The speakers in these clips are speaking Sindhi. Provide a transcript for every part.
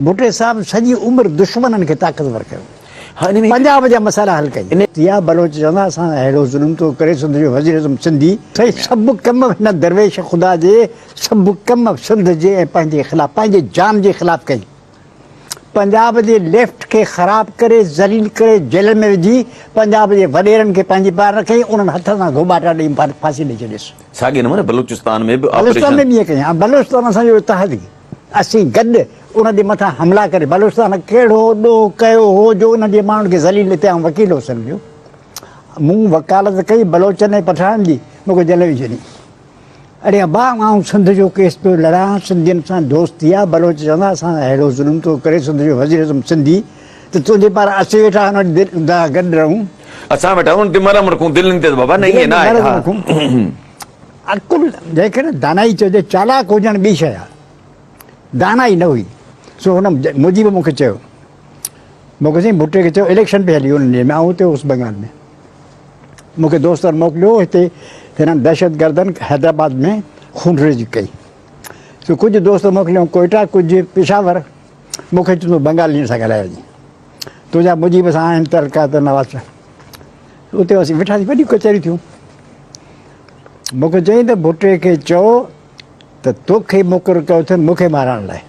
ڀٽي صاحب سڄي عمر دشمنن کي طاقتور ڪيو پنجاب جا مسئلا حل ڪئي. ضيا بلوچ چوندا اسان اهڙو ظلم ٿو ڪري سنڌ جو وزير اعظم سنڌي سائين سڀ ڪم هن درويش خدا جي سڀ ڪم سنڌ جي ۽ پنهنجي خلاف پنهنجي جان جي خلاف ڪئي پنجاب جي ليفٽ کي خراب ڪري ذليل ڪري جيلن ۾ وجهي پنجاب جي وڏيرن کي پنهنجي پار نه ڪئي انهن هٿ سان گهوٻاٽا ڏئي ڦاسي ڏئي ڇڏيس. ساڳئي نموني بلوچستان ۾ به آپريشن. بلوچستان ۾ به ائين ڪئي ها بلوچستان اسان جو اتحادي. اسين گڏ انهن جي مٿان حملا ڪري بلوچستان ۾ ڪهڙو ڏوهه ڪيو هو جو انهن جي ماڻهن کي ذليل هتي آئون وڪيل هوس ان جو مون وڪالت ڪئي بلوچن ۽ پٺاڻن جي مون کي جيل وجهي ڇڏيائين اڙي ابا آئون سنڌ جو ڪيس پيو لڙان سنڌين سان دوستي آ بلوچ چوندا اسان سان ههڙو ظلم ٿو ڪري سنڌ جو وزير اعظم سنڌي ته تنهنجي پار اسين ويٺا آهيون دل دا گڏ رهون. اسان ويٺا آهيون انهن تي مرهم رکون دلين تي ته بابا نه ائين نه آهي ها. عقل، جنهنکي دانائي چئجي، چالاڪ هجڻ ٻي شيء آهي، دانائي نه هئي، سو هن مجيب مون کي چيو، مون کي سائين ڀٽي کي چيو اليڪشن پئي هلي ان ڏينهن ۾ آئون اتي هوس بنگال ۾، مون کي دوستن موڪليو هتي هنن دهشتگردن حيدرآباد ۾ خونريزي ڪئي، سو ڪجهه دوست موڪليائون ڪوئيٽا ڪجهه پشاور، مون کي چيو تون بنگالين سان ڳالهائي وڃ، تنهنجا مجيب سان آهن تعلقات نواز شاهه. اتي اسين ويٺاسين وڏيون ڪچهريون ٿيون. مون کي چيائين ته ڀٽي کي چئو ته توکي مقرر ڪيو اٿن مون کي مارڻ لاء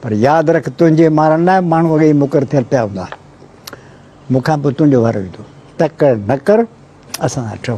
پر ياد رک تنهنجي مارڻ لاء ماڻهو اڳي ئي مقرر ٿيل پيا هوندا مون کان پوء تنهنجو وارو ايندو تڪڙ نه ڪر اسان سان ٺهو.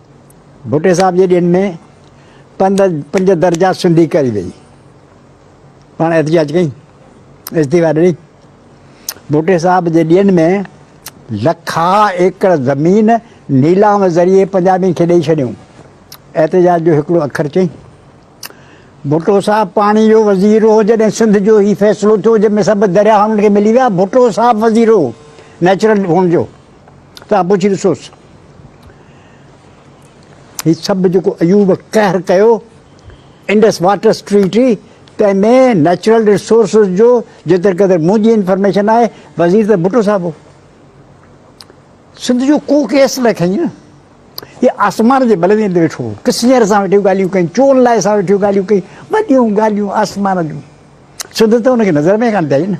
ڀٽي صاحب جي ڏينهن ۾ پنج پنج درجا سنڌي ڪري وئي پاڻ احتجاج ڪئي استعفا ڏني ڀٽي صاحب جي ڏينهن ۾ لکا ايڪڙ زمين نيلام ذريعي پنجابين کي ڏئي ڇڏيون احتجاج جو هڪڙو اکر چئي ڀٽو صاحب پاڻي جو وزير هو جڏهن سنڌ جو هي فيصلو ٿيو جنهن ۾ سڀ درياهن کي ملي ويا ڀٽو صاحب وزير هو نيچرل هئڻ جو توهان پڇي ڏسوس هي سڀ جيڪو ايوب قهر ڪيو انڊس واٽرس ٽريٽي تنهن ۾ نيچرل ريسورسز جو جيتر قدر منهنجي انفارميشن آهي وزير ته ڀٽو صاحب هو سنڌ جو ڪو ڪيس نه کين هي آسمان جي بلندين تي ويٺو ڪسنير سان ويٺيون ڳالهيون ڪئي چون لاء سان ويٺيون ڳالهيون ڪئي وڏيون ڳالهيون آسمان جون سنڌ ته هن کي نظر ۾ ڪانه پيائي نه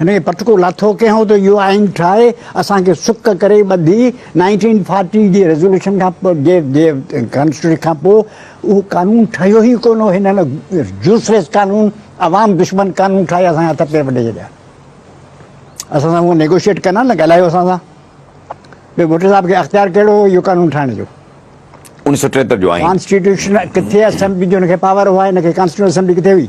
هن کي پٽڪو لاٿو ڪيائون ته اهو آئين ٺاهي اسان کي سڪ ڪري ٻڌي نائنٽين فارٽي جي ريزوليوشن کان پوء جي جي ڪانسٽيٽيوشن کان پوء اهو قانون ٺهيو ئي ڪونه هو هنن يوسليس قانون عوام دشمن قانون ٺاهي اسان جا هٿ پير وڍي ڇڏيا اسان سان هو نيگوشيٽ ڪن ها نه ڳالهايو اسان سان ٻيو ڀٽو صاحب کي اختيار ڪهڙو هو اهو قانون ٺاهڻ جو انيس سو ٽيهتر جو آئين ڪانسٽيٽيوشن ڪٿي اسيمبلي جو هن کي پاور هو هن کي ڪانسٽيٽيوشن اسيمبلي ڪٿي هئي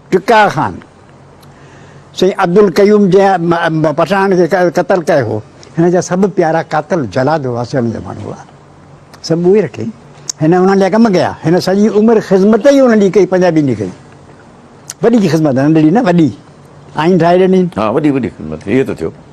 ٽڪا خان سائين عبدالقيوم جنهن پٺاڻ کي قتل ڪيو هو، هن جا سڀ پيارا قاتل جلاد هئا، سيوهڻ جا ماڻهو هئا، سڀ اهي رکي، هن انهن جا ڪم ڪيا، هن سڄي عمر خذمت ئي انهن جي ڪئي پنجابين جي ڪئي، وڏي جي خذمت ننڍڙي نه وڏي آئين ٺاهي ڏنين. ها وڏي وڏي خذمت اهي ته ٿيو.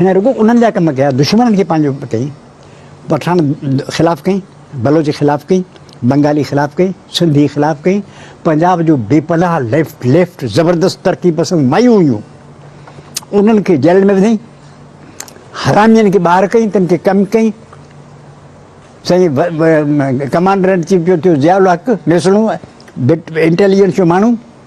هن رڳو انهن جا ڪم ڪيا، دشمنن کي پنهنجو ڪيئي، پٺاڻ خلاف ڪيئي، بلوچ خلاف ڪيئي، بنگالي خلاف ڪيئي، سنڌي خلاف ڪيئي، پنجاب جو بي پناهه ليفٽ ليفٽ زبردست ترقي پسند مايون هيون، انهن کي جيلن ۾ وڌئي، حرامين کي ٻاهر ڪيئي، تن کي ڪم ڪيئي، سائين ڪمانڊر ان چيف جو ٿيو ضياء الحق ميسڻو انٽيليجنس جو ماڻهو،